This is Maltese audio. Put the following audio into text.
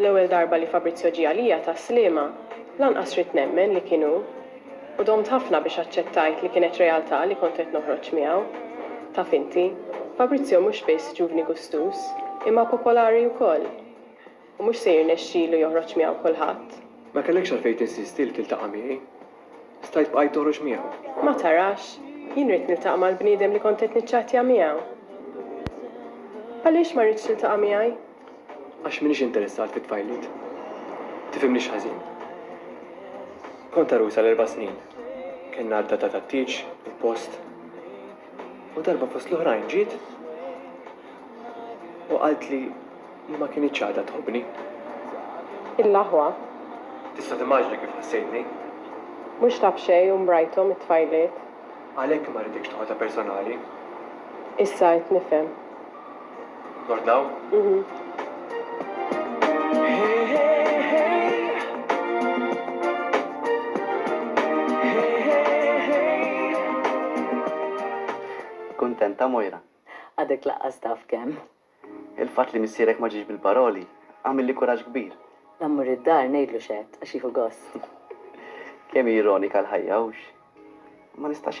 L-ewwel darba li Fabrizio ġie għalija tas-Sliema, lanqas ridt nemmen li kien hu. U domt ħafna biex aċċettajt li kienet realtà li kont qed noħroġ miegħu. Taf inti, Fabrizio mhux biss ġuvni gustuż, imma popolari wkoll. U mhux se jirnexxilu joħroġ miegħu kulħadd. Ma kellekx għalfejn tinsisti li tiltaqa' miegħi. Stajt bqajt noħroġ miegħu. Ma tarax, jien ridt niltaqa' mal-bniedem li kont qed niċċattja miegħu. Għaliex ma rridx tiltaqa' miegħi? Għax m'iniex interessat fit-tfajliet. Tifhimnix ħażin. Kont għarusa għal erba' snin. Kellna għadda ta' tattieġ, il-post. U darba fost l-oħrajn ġiet u qaltli, Hi ma kinitx għadha tħobbni. Il-laħwa. Tista' timmaġina kif ħassejtni? Mhux taf xejn u mrajthom it-tfajliet. Għalhekk ma rridekx toħodha personali. Issa qed nifhem. Nordnaw? Kuntenta Moira? Għadek laqqas taf kemm. Il-fatt li missierek ma ġiex bil-paroli għamilli kuraġġ kbir. La mmur id-dar ngħidlu x'għedt għax jieħu gost. Kemm hi ironika l-ħajja, hux? Ma nistax